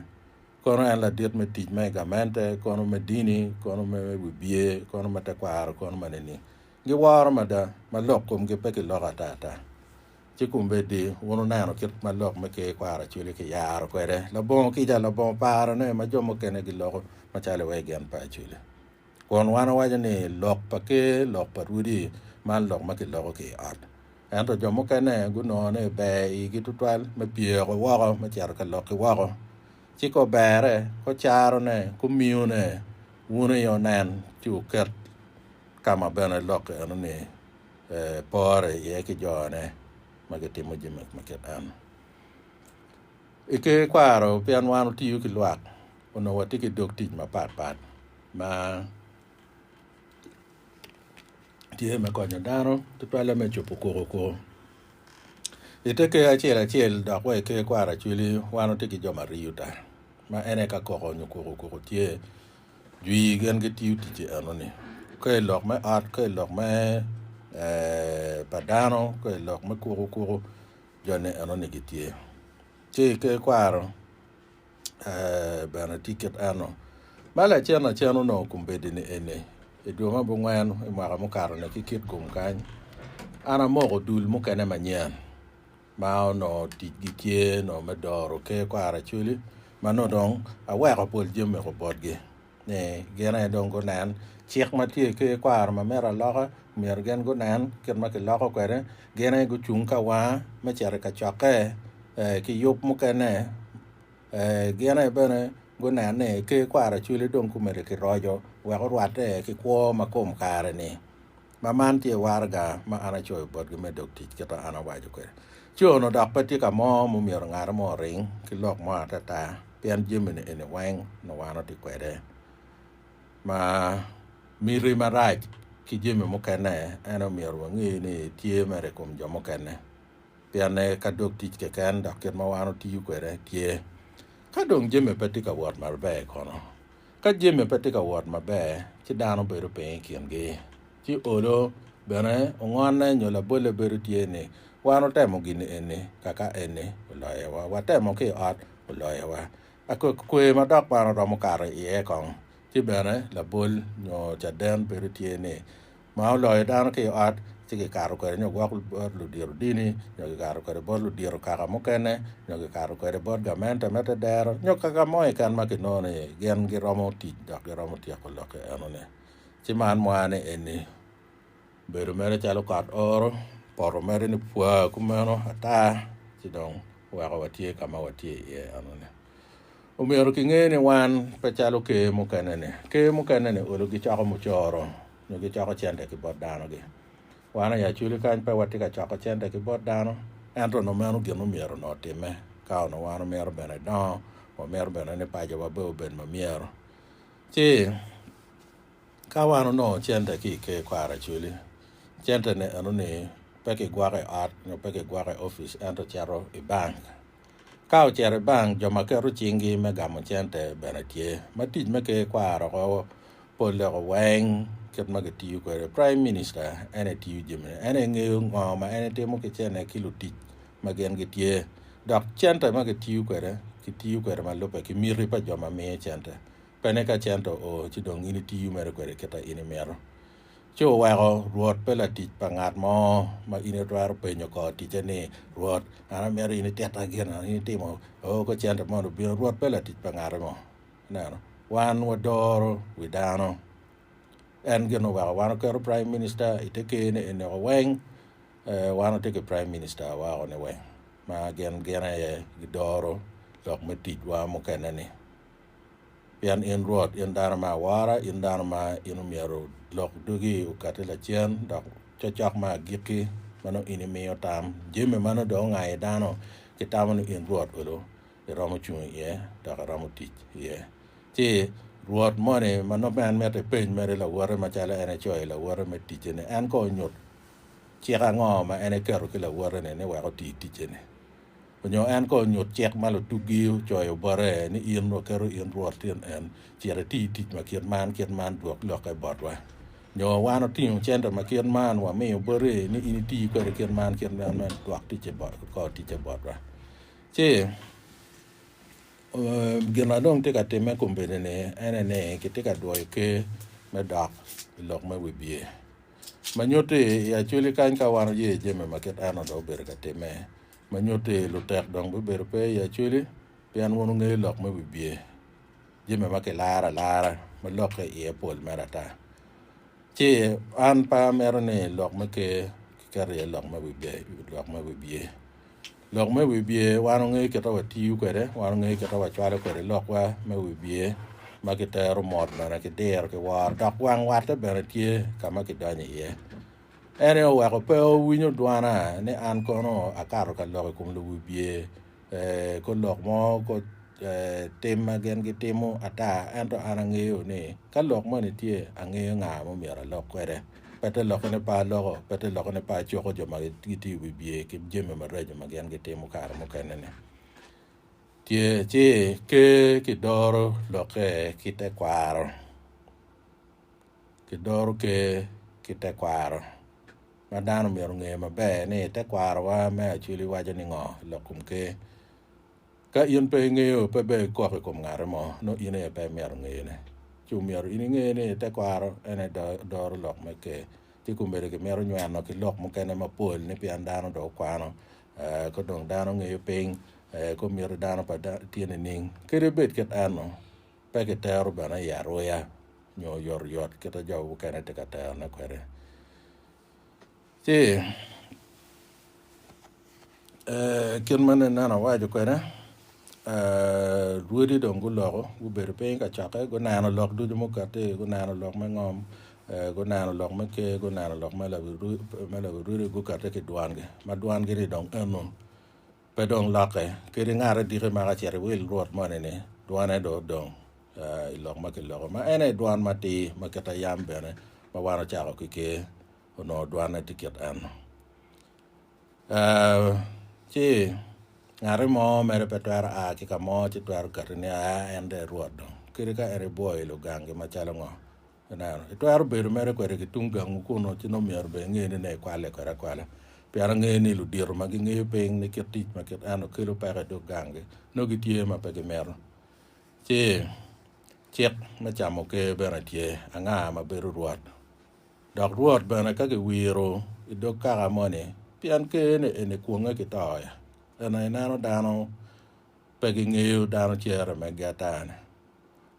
kono en ladit me tic ma i gamente, kono me dini, kono me wibye, kono me tekwaro, kono ma nining, giworo mada, ma lok komgi pe kiloko atata. Ci kombeddi wun wuneno kit ma lok me Ker kwaro acwele kiyaro kwede labongo kica labongo parone ma jo mukene giloko macalo iwaci gin pa acwele. Kun wan wawaco ni lok pa Ker lok pa rwodi, man lok ma kiloko ki i ot. Ento jo mukene gunongo ni ber i igi tutwal me pyeko woko me cito ka lok ki woko. Ci ka oberre, ka ocarone, ka omiyone, wun aye wunen ci wuket ka ma bene lok eno-ni. epore iye ki jone ma gitimo jami ma kit eno. I ker kwaro pien wan watiyo ki lwak onongo watye ki dog tic mapat pat ma tye me konyo dano tutwalle me cubo koko koko. I te ker acel acel dok wa i ker kwaro acweli wan watye ki jo ma riyo ta ma en aye ka koko nyo koko koko tye Jwi gin gitiyo ticce enoni ka i lok me ot, ka i lok me pa dano, ka i lok me kuku kuku joni enoni gitye. Ci ki kwaro bene tye kit eno. Ma lacen lacen onongo kombeddi-ni eni, i dwe me abongwen i mwaka mukato-ni ki kitgum kany, an amoko dul mukene manyen. ma onongo ticgi tye nongo me doro ker kwaracwili ma nongo dong aweko pol jami oko botgi ni gin aye dong gunen cik ma tye i ker kwaro ma mito aloka myero gin gunen kit ma kiloko kwede gin aye gucung ka wanga me cito i kacokke ee ki yub mukene ee gin aye bene gunen ni ker kwaracwili dong gumedo ki roco wek orwatte ki kwo ma kom kare-ni. ma man tye waraga ma an acoyo botgi me dog tic kit ma an awaco kwede. Co-nu dok pe tye ka mo ma omyero ngati mo oring ki lok mo atata, pien jami-ni eni weng nongo wan watye kwede. Ma miti marac ki jami mukene en aye omyero wange ni tye mere i kom jo mukene, pien aye ka dog tic keken dok kit ma wan watiyo kwede tye. Ka dong jami pe tye ka wot maber kono? Ka jami pe tye ka wot maber, ci dano bedo piny i kingi, ci olo. Bene, ongonne nyo labolle bedo tye ni, Wan otemo gin eni, kaka eni, oloyowa. Watemo ki i ot, oloyowa. Akwekwee ma dok man oromo kato iye kong. Ci bene, labol nyo caden bedo tye ni, ma oloyo dano ki i ot, ci kikato kwede nyo gwok bot ludito dini, nyo kikato kwede bot ludito kaka mukene, nyo kikato kwede bot gamente me tedero, nyo kaka mo keken ma kinongo ni gin giromo tic dok giromo tyeko lokke enoni. Ci man mwaya ni eni bedo mere calo kot oro, poto mere ni pwa kumeno ata, ci dong weko watye ka ma watye iye enoni. Omyero kinge ni wan pe calo ker mukene-ni. Ker mukene-ni olo gicoko mucoro nyo gicoko cente ki bot danogi. Wan aye aculi kany pe watye ka coko cente ki bot dano, ento onongo meno gin mumyero onongo otimme ka onongo wan omito bene dongo, wamito bene ni pacowa bene obed ma myero. Ci, ka wan onongo cente ki i ker kwaro aculi, cente-ni eno-ni pe kigwoko i ot nyo pe kigwoko i opic ento cito i bank. Ka ocito i bank, jo ma keto cinggi me gamo cente bene tye, ma tic me ker kwaro oko pol leko weng kit ma kitiyo kwede. Praim Minista en aye tiyo jamine. En aye ngeyo ngo ma en etimo ki cene ki lutic ma gin gitye. Dok cente ma kitiyo kwede, kitiyo kwede ma lubbe ki miti pa jo ma miyo cente. Pe ni ka cente oo ci dong in itiyo mere kwede kit a in imito. Ci oweko Rwot pe latic pa ngat mo, ma in itwero penyo kor ticce ni, 'Rwot, an amito in ititta gin ango? In itimo o ko cente moni obino. Rwot pe latic pa ngate mo. Ineno? Wan wadoro wi dano. En gin oweko wan oketo Praim Minista i te ker-ni eniko weng. Wan watye ki Praim Minista weko-ni weng, ma gin gin aye gidoro lok me ticwa mukene-ni. Pien in Rwot, in dano ma awora, in dano ma in omyero lok dugi okatti lacen, dok cokcok ma agikki ma nongo in imiyo tam. Jami ma nongo dong ongayi dano gitamo ni in Rwot olo iromo cung iye dok iromo tic iye. Ci Rwot moni ma nongo en mitte ipeny mere lawote macalo en ecoyo lawote me ticce-ni, en kono onyut cik ango ma en eketo ki lawote-ni ni wek oti ticce-ni. Onyo en kong onyut cik ma lutuggi ocoyo bote ni in wa keto in rwot tyen en, cit iti tic ma kit man kit man dwok lokke botwa. Nyo wan otingo cente ma kit man wa miyo boti ni in iti kwede kit man kit man me dwok ticce kor ticce botwa. Ci gin ma dong tye ka timme kombeddi ni ene ni kitye ka dwoyo ker me dok i lok me wibye. Ma nyutti i Acoli kany ka wan oye jami ma kit eno do obedo ka timme. Ma nyutti, lutek dong bibedo pe i Acholi pien wun wungeyo lok me wibye, jami ma kilaro alara, ma lokke iye pol mere ata. Ci an pe amito ni lok me Ker kiketo iye lok me wibye, lok me wibye. Lok me wibye wan wungeyo kit ma watiyo kwede, wan wungeyo kit ma wacwalo kwede lokwa me wibye ma kitero mot bene ki diro ki woro, dok wang watte bene tye ka ma kidonyo iye. En aye oweko pe owinyo dwana ni an kono akato ka lok i kom luwibye, kor lok mo, kor tim ma gin gitimo ata. Ento an angeyo ni ka lok moni tye, angeyo nga ma myero alok kwede. Pe te lokone pe aloko, pe te lokone pe acoko jo ma gitye i wibye ki jami maraco ma gin gitimo kare mukene-ni. Tye ci ker kidoro lokke ki tekwaro. Kidoro Ker ki tekwaro. Ma dano omyero onge maber ni tekwarowa me acwili waco ni ngo i lok kom Ker. Ka in pe ingeyo, pe bene ikok i kom ngate mo, nongo in aye pe imyero ingeyone. Ci omyero in inge ni tekwaro en aye doro lok me Ker. Ci komedo kimito nyweno ki lok mukene mapol ni pien dano dong okwano, ka dong dano ngeyo piny, komiti dano pa tye nining? Kadi bed kit eno, Pe kitero bene i aruya nyo oyotoyot kit ma jo mukene tye ka terone kwede. Ci kit ma nene ni awaco kwede, lwodi dong guloko gubedo piny i kacokke guneno lok ducu ma okatti, guneno lok me ngom, guneno lok me ker, guneno lok me lawi rwodi, gukette ki dwangi ma dwangi-ni dong eno. Pe dong lokke, kadi ngat adiki ma ka cito i wil Rwot moni-ni, dwone dong odong i lok ma kiloko, ma en aye dwan matir ma kit a yam bene, ma wan ocako ki ker, onongo dwanne tye kit en. Ci ngati mo mere pe twero a ki ka mo ci twero kati ni, Aa, en dong erwot dong, kadi ka en ebwoyo i lugangi macalo ngo, Ineno? Itwero bedo mere kwede ki tung gangwu kunnu, ci nongo myero bene inge ni nongo ikwalle kwede akwala. Pien angeyo ni ludito ma gingeyo piny ni kit tic ma kit eno kelo peko i dog ganggi, nongo gitye ma pe gimito. Ci, cik me camo ker bene tye, Anga ma bedo rwot? Dok rwot bene ka kiwiro i dog kaka moni, pien ker-ni eni kwonge ki to-ya. Ento ineno dano Pe gingeyo dano cere megi ata-ni.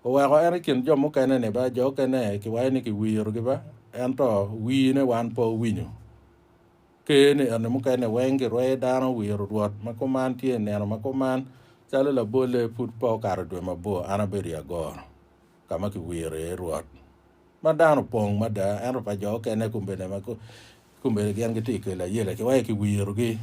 Oweko en i kin jo mukene-ni ba, jo okene kiwayo ni kiwirogi ba, ento wine wan pe owinyo. Ker ni eni mukene weng girweyo dano wiro Rwot ma kuman tye i nino ma kuman, calo labolle pud pe okato dwe mabor an abedo i agoro ka ma kiwiro iye Rwot, ma dano opong mada, ento pa jo okene kombene ma kombene gin gitye i kel ayela kiwayo kiwirogi.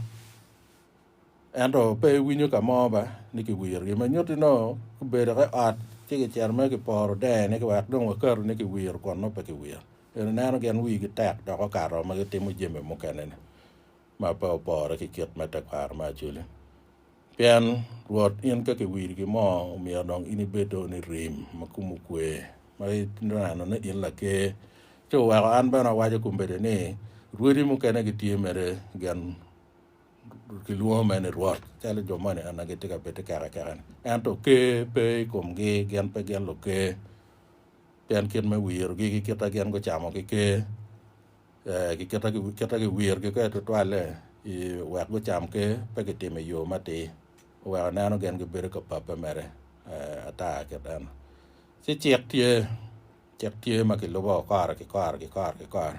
Ento pe iwinyo ka mo ba ni kiwirogi. Ma nyutti nongo gubedo ki ot ci gicito mere giporo dene ki wek dong wakato ni kiwiro kun nongo pe kiwiro. Ento ineno gin wigi tek dok okato ma gitimo jami mukene-ni ma pe opore ki kit me tekwaro me Acholi. Pien Rwot in ka kiwirigi mo omyero dong in ibed dong ni rim ma komi okwe ma ineno ni in laker. Ci oweko an bene awaco kombeddi ni, Rwodi mukene gitye mere gin Gilwongo mene Rwot, calo jo moni eni gitye ka bed ki kero akeka-ni. Ento ker pe i komgi, gin pe gin luker, pien kit me wirogi ki kit ma gin gucamo ki ker, ee, ki kit ma kit ma giwirogi kwede tutwalle i wek gucam ker, pe gitimo i yo matir, oweko neno gin gibedo ka pape mere, ee, ata kit eno. Ci cik tye, cik tye ma kilubo kore ki kore ki kore ki kore.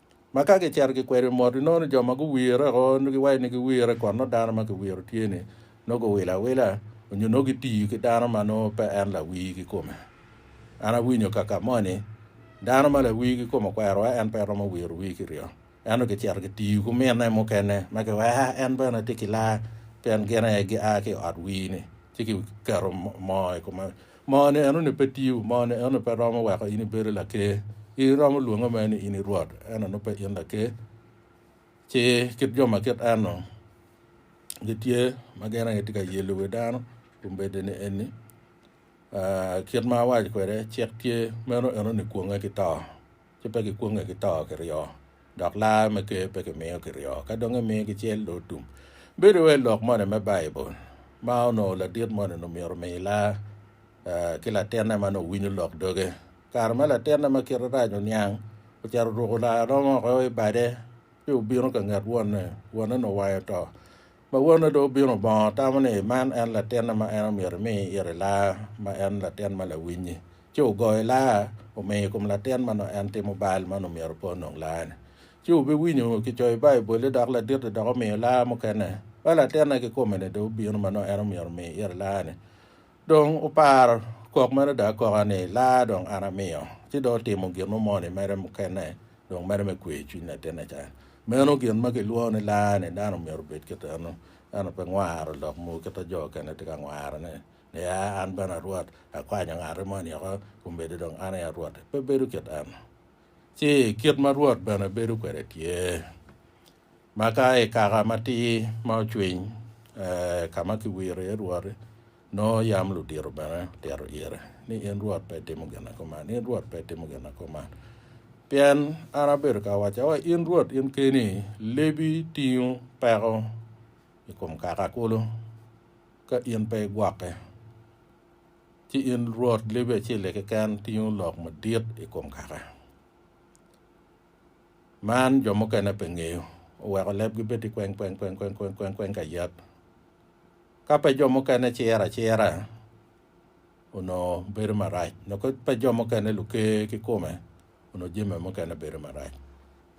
ma ka gicito gikwedo i mot inongo ni jo ma guwire woko nongo giwaco ni giwire kun nongo dano ma kiwiro tye-ni nongo guwilo awila nyo nongo gitiyo ki dano ma nongo pe en lawii kikome. An awinyo kaka moni dano ma lawii kikome okwerowa en pe romo wiro wii kiryo ento gicito gitiyo ki mine mukene ma kiweko en bene tye ki laa pien gin aye gia ki i ot wii-ni ci kiketo moo i kome Moni enoni pe tiyo, moni enoni pe romo weko in ibedo laker. In iromo lwonge mere ni in i rwot, ento nongo pe in laker. Ci kit jo ma kit en-nu gitye ma gin aye tye ka yelo wi dano kun bedeni eni, aa, kit ma awaco kwede, cik tye, meno enoni kwonge ki to. ci pe gikwonge ki to ki ryo, dok lar me ker pe kimiyo ki ryo, ka dong emiyo ki cel do tum. Bedo wai lok moni me Baibul ma onongo ladit moni ni myero omi lar ki latinne ma nongo winyo lok doge. Kare ma latinne ma kite rac oniang, ocito oruko lar romo woko i bade ci obino ka nget wonne, wonne ni owayo to, Ma wonne dong obino bongo tamo ni man en latinne ma en omyero imi ite laa, ma en latin ma lawiny-nyi. Ci ogoyo laa, omiyo i kom latin ma nongo en timo bal ma nongo myero opo nongo laa-ni. Ci obiwinyo kicoyo i Baibul-li dok ladit-ti dok omiyo laa mukene. Ba latinne kikome-ni dong obino ma nongo en omyero omi ite laa-ni. Dong wupar kok mere ada akoka ni, Laa dong an amiyo, ci dong atimo gin mo moni mere mukene dong mere me kweyo cwiny latinne ca. Meno gin ma kilwongo ni laa ni dano myero obed kit eno, ento pe ngwaro lok mogo kit ma jo okene tye ka ngwarone, niya, An bene a Rwot, akwanyo ngati moni oko, omedde dong an aye a Rwot. Pe bedo kit eno. Ci kit ma Rwot bene bedo kwede tye. Ma ka i kaka matir ma ocwiny ka ma kiwiro iye Rwot-ti, nongo yam ludito bene otito ire ni, 'In Rwot pe itimo gin na kuman, in Rwot pe itimo gin na kuman. Pien an abedo ka wacca wa, in Rwot in keni, lebi tingo peko i kom kaka kulu ka in pe igwokke, ci in Rwot lebi acel-li keken tingo lok madit i kom kaka. Man jo mukene pe ngeyo, oweko lebgi bed i kweng kweng kweng kweng kweng kweng kweng ka yat. Ka pe jo mukene ciro acira, onongo bedo marac, nyo ka pe jo mukene luker ki kome, onongo jami mukene bedo marac.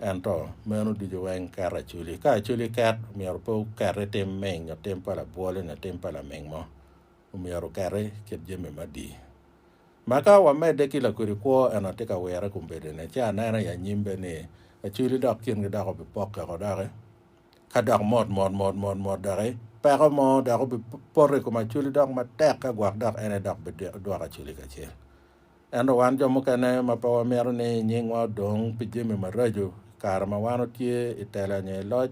Ento meno ducu weng keto aculi. Ka aculi ket, myero pe oket i tim ming nyo tim pa labwol nyo tim pa laming mo. Omyero oketi kit jami madi. Ma ka wamedde ki lakodi kwo ento atye ka wire i kom bedone, ci anene i anyim bene ni acwili dok kingi dok obipokke woko doki, ka dok mot mot mot mot mot doki, peko mo dok obipoto i kom acwili dok matek ka gwok dok en aye dok bidwoko acwili kacel. Ento wan jo mukene ma pe wamito ni nyingwa odong pi jami maraco i kare ma wan watye i tela nyo i loc,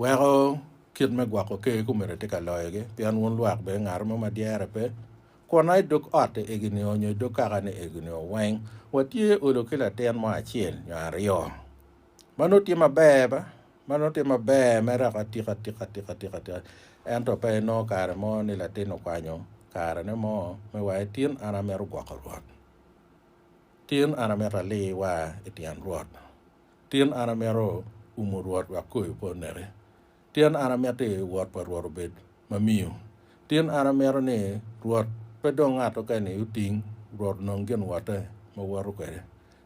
Weko kit me gwoko ker kumene tye ka loyogi, pien wun lwak bene ngat mo ma dyere pe, kwonna i dog otti egi nio nyo i dog kakani egi nio weng watye olo ki latin mo acel nyo aryo. Ma nongo tye maber ba? Ma nongo tye maber me reko atika atika atika atika atika, ento pe inongo kare mo ni latin okwanyo karene mo me waye, Tin an amito gwoko Rwot. Tin an amito ali wa i tyen Rwot. Tin an amito umo Rwot wek koyo pe oneke. Tin an amito ni wot pa Rwot obed ma miyo. Tin an amito ni Rwot pe dong ngat oken-ni oting, Rwot onong gin wotte ma woto kwede.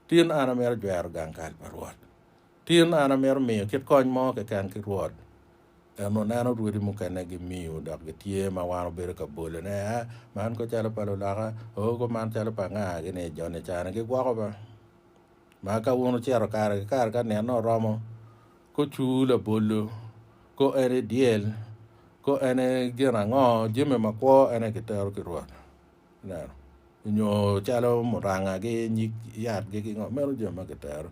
Tin an amito jwero gang kal pa Rwot. Tin an amito miyo kit kony mo keken ki Rwot. En oneno rwodi mukene gimiyo dok gitye ma wan obedo ka bole ne, a, man ko calo pa luloka, oo ko man calo pa anga, gini joni cani gigwoko ba. Ma ka wun wucito kare ki kare ka nino oromo, kucur labolo, ko en e dyel, ko en e gin ango, jami makwo en aye kitero ki Rwot. Ineno? Nyo calo murangagi, nyig yatgi ki ngo, meno jami ma kitero.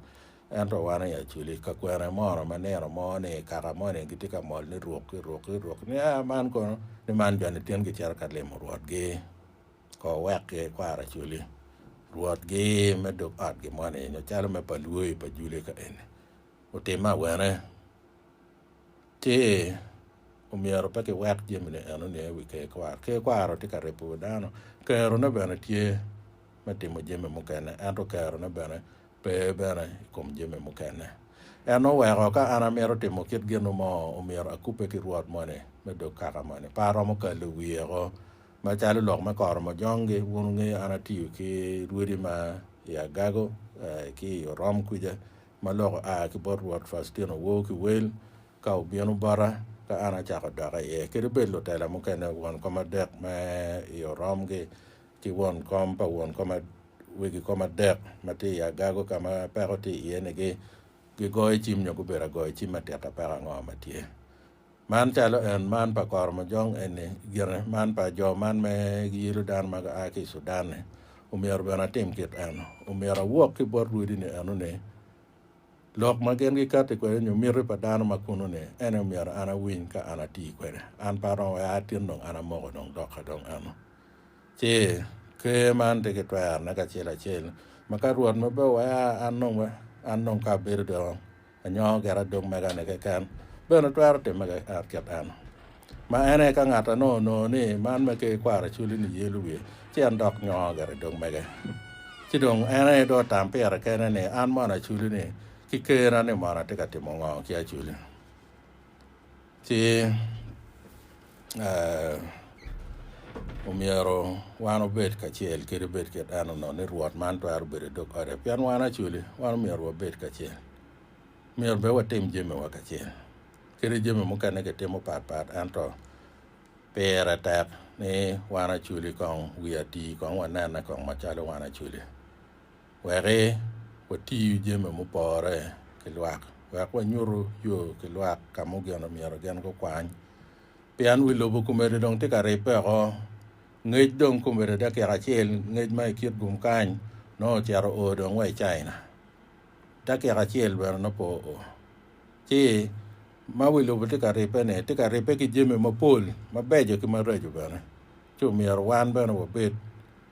Ento wan i Acholi, ka kwene mono ma nino mo ni kaka moni gitye ka mol ni ruk ki ruk ki ruk ni, A man kono, ni man joni tin gicito ka limo rwotgi. kor wek ki kwaro acoli rwot gi me dog ot gi moni nyo calo me pa lwoyi pa juli ka eni otimme awene ci omyero pe ki wek jami ni eno niye wi ker kwaro ker kwaro tye ka ripo wi dano kero ne bene tye me timo jami mukene ento kero ne bene pe bene i kom jami mukene en oweko ka an amito timo kit gin mo omyero akube ki rwot moni me dog kaka moni pe aromo kalo wiye ko Macalo lok me koro majongi, wun wungeyo an atiyo ki rwodi ma i Agago ki i Orom kwica ma lok oa ki bot Rwot Faustino Woo ki Wel ka obino bota ka an acako doka iye, kadi bed lutela mukene, won kom adek me i Orom ki ki won kom pa won kom wegi kom adek ma tye i Agago ka ma peko tye iye-ni gigoyo cim nyo gubedo agoyo cim atika peko ango ma tye. Man calo en man pa koromojong eni gine man pa jo man me giyilo dano ma gua ki i Sudan-ni, omyero bene atim kit eno. Omyero awok ki bot rwodini eno ni, Lok ma gin gikatti kwede nyo miti pa dano ma kuno-ni, en aye omyero an awiny ka an atii kwede. An pe aromo wek aa tin dong an amoko dong doka dong eno. Ci, Ker man tye ki twerone kacel acel, ma ka Rwot ma pe owea an dong, an dong ka abedo dong Anyongo gire adok mega-ni keken, bene twero timme keken kit en. Ma en aye ka ngat anongo onongo ni man me ker kwaro culi ni yelo wiye, ci en dok nyongo gire dog mege. Ci dong en aye dong otam pire kene ni, An mono aculi-ni ki kerna ni mono atye ka timo ngo ki aculi? Ci omyero wan obed kacel kede bed kit eno no ni Rwot man twero bedo i dog ote. Pien wan acoli, wan omyero wabed kacel. Myero bene watim jamiwa kacel. Kadi jami mukene kitimo pat pat ento pire tek ni wan acoli kong wi ati kong wanene kong macalo wan acoli. Wek wati jami mupore ki lwak. Wek wanyutu yo ki lwak ka mugeno myero gin gukwany. Pien wi lobo komede dong tye ka ribbe oko. Ngec dong komede dakika acel, ngec ma i kit gum kany, nongo ocito oo dong wa i China. Dakika acel bene nongo pe oo. Ci, ma wi lobo tye ka ribbe-ni, tye ka ribbe ki jami mapol, mabeco ki maraco bene. Ci omyero wan bene wabed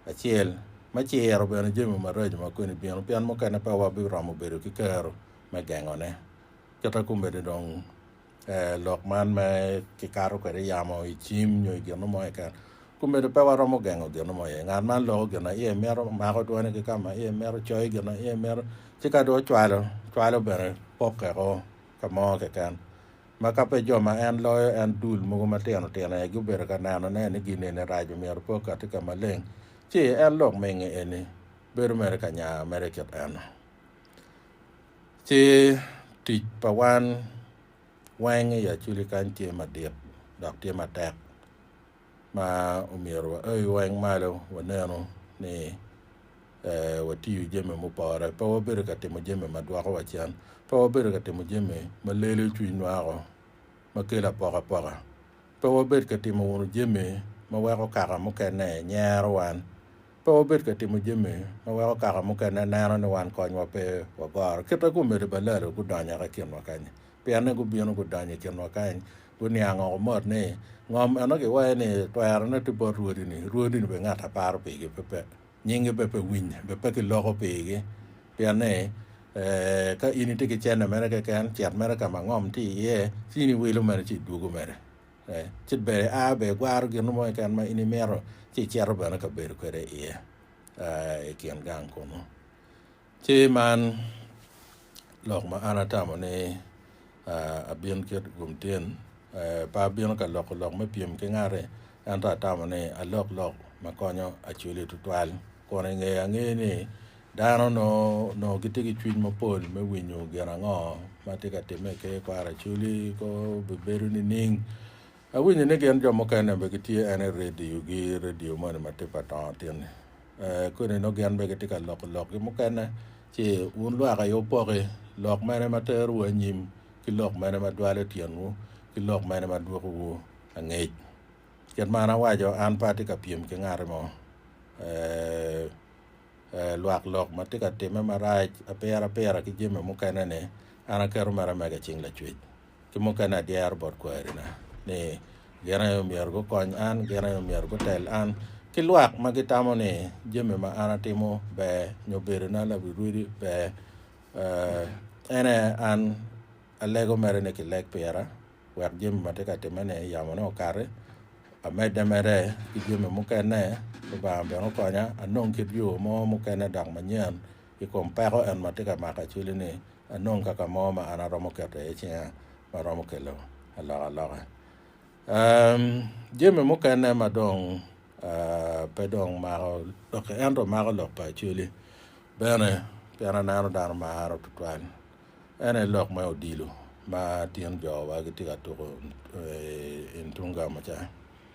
acel me ciro bene jami maraco ma koni bino, pien mukene pe wabiromo bedo ki kero me gengone. Kite komedi dong, lok man me kikato kwede yamo i cim nyo i gino mo keken, komedi pe waromo gengo gino mo iye. Ngat man loko gin ma iye mito, mako twone ki ka ma iye mito, coyo gin ma iye mito, ci ka dong ocwalo, cwalo bene pokke ko ka mo keken. Ma ka pe jo ma en loyo en dul mogo matino tino aye gubedo ka neno ne ni gin eni raco myero pe okati ka maleng ci en lok mingi eni bedo mere ka nya mere kit eno ci tic pa wan weng i aculi kany tye madit dok tye matek. ma omyero waoyo weng malo wanenu ni watiyo jami mupore, pe wabedo ka timo jami ma dwoko wa cen, pe wabedo ka timo jami ma lelo cwinywa woko, ma kelo apokapoka, pe wabed ka timo wunu jami ma weko kaka mukene nyero wan, pe wabed ka timo jami ma weko kaka mukene neno ni wan konywa pe wagoro. Kite-gu omede balalo gudonyo yaka i kinwa kany-ni. pienne gubino gudonyo i kinwa kany, guniang oko mot ni, Ngom eno giwaye ni, Twerone tye bot rwodi-ni, rwodi-ni bene ngat a paro pigi pe, nyingi bene pe winye, bene pe kiloko pigi. Pien ni, ka in itye ki cente mere keken, cit mere ka ma ngom tye iye, ci in iwilo mere ci idwogo mere. Ci bene ia bene igwaro gin mo keken ma in imito, ci icito bene ka bedo kwede iye i kin gang kunnu. Ci man lok ma an atamo ni abin kit gum tyen, Pe abino ka loko lok me pyem ki ngati, ento atamo ni alok lok ma konyo acwili tutwal. Kun i ngeye angeyo ni dano nongo gitye ki cwiny mapol me winyo gin ango ma tye ka timme i ker kwaro acwili, kor obibedo nining? Awinyo ni gin jo mukene be gitye ene radio gi radio moni ma tip adongo tin eh, koni nongo gin be gitye ka loko lok gi mukene ci wun lwak aye wupoki lok mene ma tero wu anyim ki lok mene ma dwalo tyen wu ki lok mene ma dwoko wu angec. Kit ma an awaco an pe atye ka pyem ki ngati mo eh, eh, lwak lok ma tye ka time marac apira apira ki jami mukene ni an aketo mere mega i cing lacwec. ki mukene adyero bot kwerina, ni gin aye myero gukony an, gin aye myero gutel an, ki lwak ma gitamo ni jami ma an atimo ber nyo bedona larirwidi ber. Uh, en aye an alego mere ni kileg pira wek jami ma tye ka timme-ni yamone okati, amedde mere ki jami mukene, Lubanga bene okonya anong kit yo mo mukene dok manyen I kom peko en ma tye ka mako acwili-ni, anong kaka mo ma an aromo keto iye cinga ma romo kelo alokaloka. Jami mukene ma dong pe dong mako lokki ento mako lok pa acwili bene, pien aneno dano maro tutwal, en aye lok me odilo ma tin jowa gitye ka tuko i Ntungamo ca.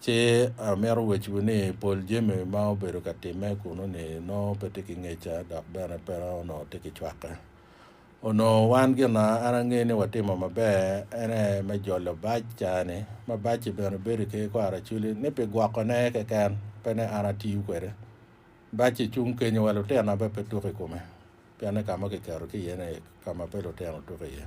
Ci amito wecciwu ni, pol jami ma obedo ka timme kunnu-ni nongo pe tye ki ngeca dok bene pe onongo tye ki cwakke. Onongo wan gin ma an angeyo ni watimo maber en aye me jolo bac caa-ni, ma bac-ci bene bedo i ker kor aracoli, ni pi gwokone keken, pe ni an atiyo kwede. Bac-ci cung kenyo wa lutino bene pe tuk i kome, pienni ka ma kiketo ki iye-ni ka ma pe lutino tuko iye.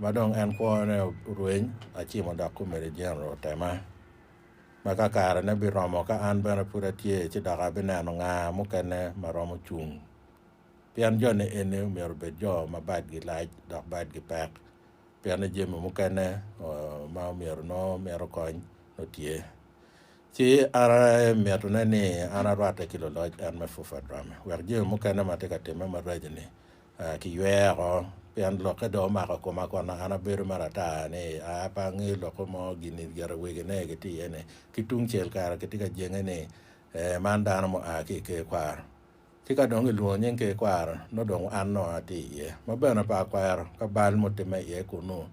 ma dong en kwone orweny, acimo dok komedi Jeneral otema, ma ka karene biromo ka an bene pud atye ci dok abineno nga mukene ma romo cung. Pien joni eni myero obed jo ma badgi lac dok badgi pek, pienni jami mukene ma omyero nongo mito kony nongo tye. Ci an mitine ni an arwatte ki luloc en me Fufa Drame wek jami mukene ma tye ka timme maraco-ni A Kiywea oko, pien lokke dong omako koma kono an abedo ma ratar ni aa pe ange lokke mo gin i gire wegi ne gitye iye ni. Ki tung cel kare kitye ka jenge ni ee man dano mua ki i ker kwaro. Ci ka dong kilwongo nying ker kwaro nongo dong an nongo atye iye. Ma bene pe akwero ka bal mutimme iye kunnu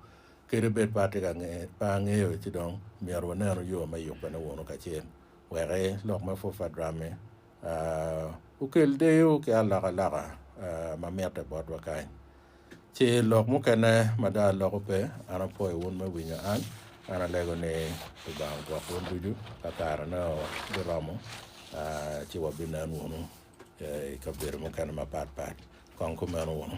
kadi bed pe atye ka pe angeyo ci dong myero wunenu yo me yubbe ne wunu kacel wek ee lok me purfa drammi. Okel deyo ki alokaloka ma mitte botwa kany. Ce lok mukene ma dong aloko pe, an apwoyo wun me winyo an. An alego ni Lubanga ogwok wun ducu ka karene biromo, ci wabinen wunu i kabedo mukene mapat pat. Kong kumeno wunu.